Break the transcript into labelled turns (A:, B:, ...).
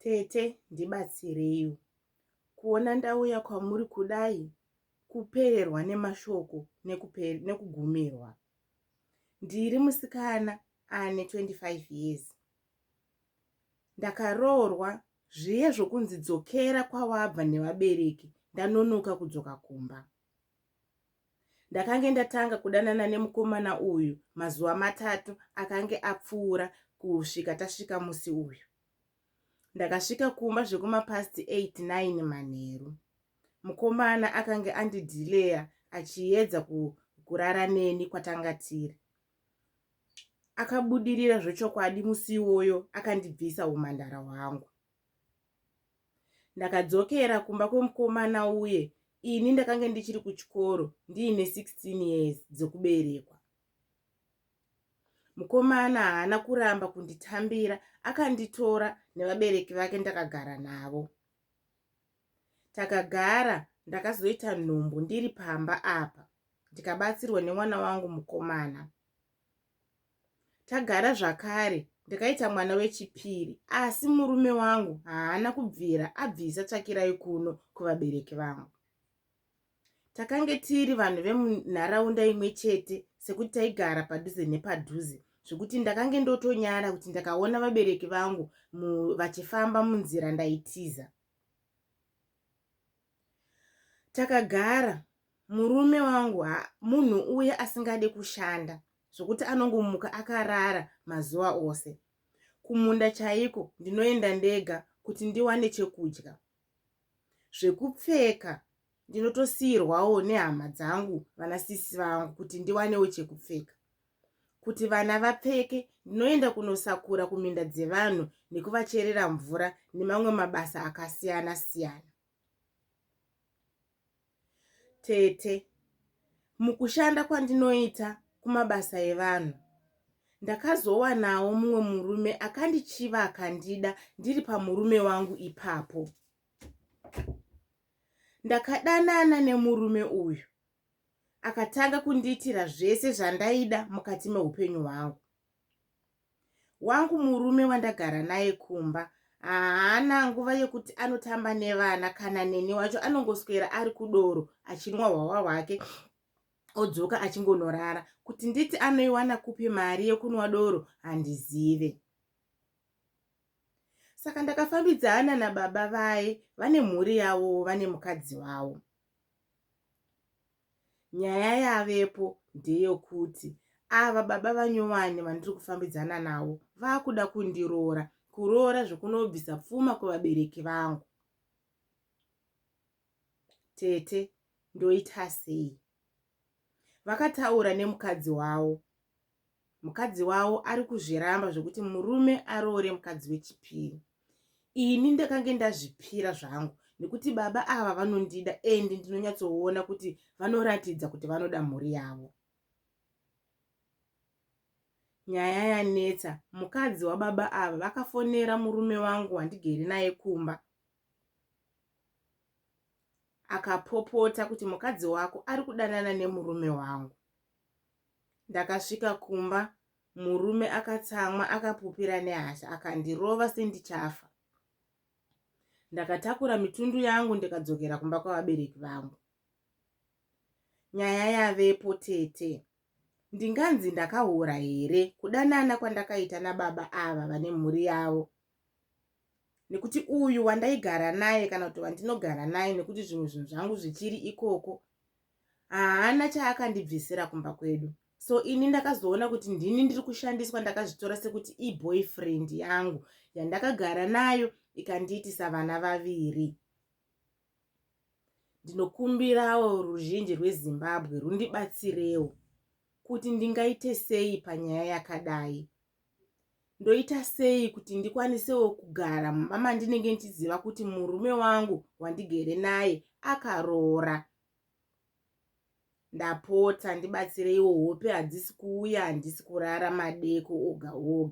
A: Tete ndibatsireiwo kuona ndauya kwamuri kudai kupererwa nemashoko nekugumirwa. Ndiri musikana ane 25 years. Ndakaroorwa zviye zvokunzi dzokera kwawabva nevabereki ndanonoka kudzoka kumba. Ndakange ndatanga kudanana nemukomana uyu mazuva matatu akange apfuura kusvika tasvika musi uyu. Ndakasvika kumba zvekumapast 89 manheru. Mukomana akange andidhileya achiyedza kurara neni kwatanga tiri. Akabudirira zvechokwadi musi iwoyo akandibvisa umhandara hwangu. Ndakadzokera kumba kwemukomana uye ini ndakange ndichiri kuchikoro ndiine 16 years dzokuberekwa. Mukomana haana kuramba kunditambira akanditora nevabereki vake ndakagara navo. Takagara ndakazoita nhumbu ndiri pamba apa ndikabatsirwa nemwana wangu mukomana. tagara zvakare ndikaita mwana wechipiri asi murume wangu haana kubvira abvisa tsvakirai kuno kuvabereki vangu takange tiri vanhu vemunharaunda imwe chete sekuti taigara padhuze nepadhuze zvekuti ndakange ndotonyara kuti ndakaona vabereki vangu vachifamba munzira ndaitiza takagara murume wangu munhu uye asingade kushanda zvokuti anongomuka akarara mazuva ose kumunda chaiko ndinoenda ndega kuti ndiwane chekudya zvekupfeka ndinotosiyirwawo nehama dzangu vana sisi vangu kuti ndiwanewo chekupfeka kuti vana vapfeke ndinoenda kunosakura kuminda dzevanhu nekuvacherera mvura nemamwe mabasa akasiyana siyana tete mukushanda kwandinoita kumabasa evanhu ndakazowanawo mumwe murume akandichiva akandida ndiri pamurume wangu ipapo ndakadanana nemurume uyu akatanga kundiitira zvese zvandaida mukati meupenyu hwangu wangu murume wandagara naye kumba haana nguva yekuti anotamba nevana kana neni wacho anongoswera ari kudoro achinwa hwawa hwake odzoka achingonorara kuti nditi anoiwana kupi mari yekunwa doro handizive saka ndakafambidzana nababa vaye vane mhuri yavo vane mukadzi wavo nyaya yavepo ndeyokuti ava baba vanyowani vandiri kufambidzana navo vakuda kundiroora kuroora zvekunobvisa pfuma kuvabereki vangu tete ndoita sei vakataura nemukadzi wavo mukadzi wavo ari kuzviramba zvekuti murume aroore mukadzi wechipiri ini ndakange ndazvipira zvangu nekuti baba ava vanondida and ndinonyatsoona kuti vanoratidza kuti vanoda mhuri yavo nyaya yanetsa mukadzi wababa ava vakafonera murume wangu wandigere naye kumba akapopota kuti mukadzi wako ari kudanana nemurume wangu Ndakasvika kumba murume akatsamwa akapupira nehasha akandirova sendichafa. Ndakatakura mitundu yangu ndikadzokera kumba kwavabereki vangu. Nyaya yavepo tete. Ndinganzi ndakahura here kudanana kwandakaita nababa ava vane mhuri yavo nekuti uyu wandaigara naye kana kuti wandinogara naye nekuti zvimwe zvinhu zvangu zvichiri ikoko haana chaakandibvisira kumba kwedu so ini ndakazoona kuti ndini ndiri kushandiswa ndakazvitora sekuti iboyfriend yangu yandakagara nayo ikandiitisa vana vaviri Ndinokumbirawo ruzhinji rweZimbabwe rundibatsirewo kuti ndingaite sei panyaya yakadai. Ndoita sei kuti ndikwanisewo kugara mumba mandinenge ndichiziva kuti murume wangu wandigere naye akaroora. Ndapota ndibatsireiwo hope hadzisi kuuya handisi kurara madeko oga oga.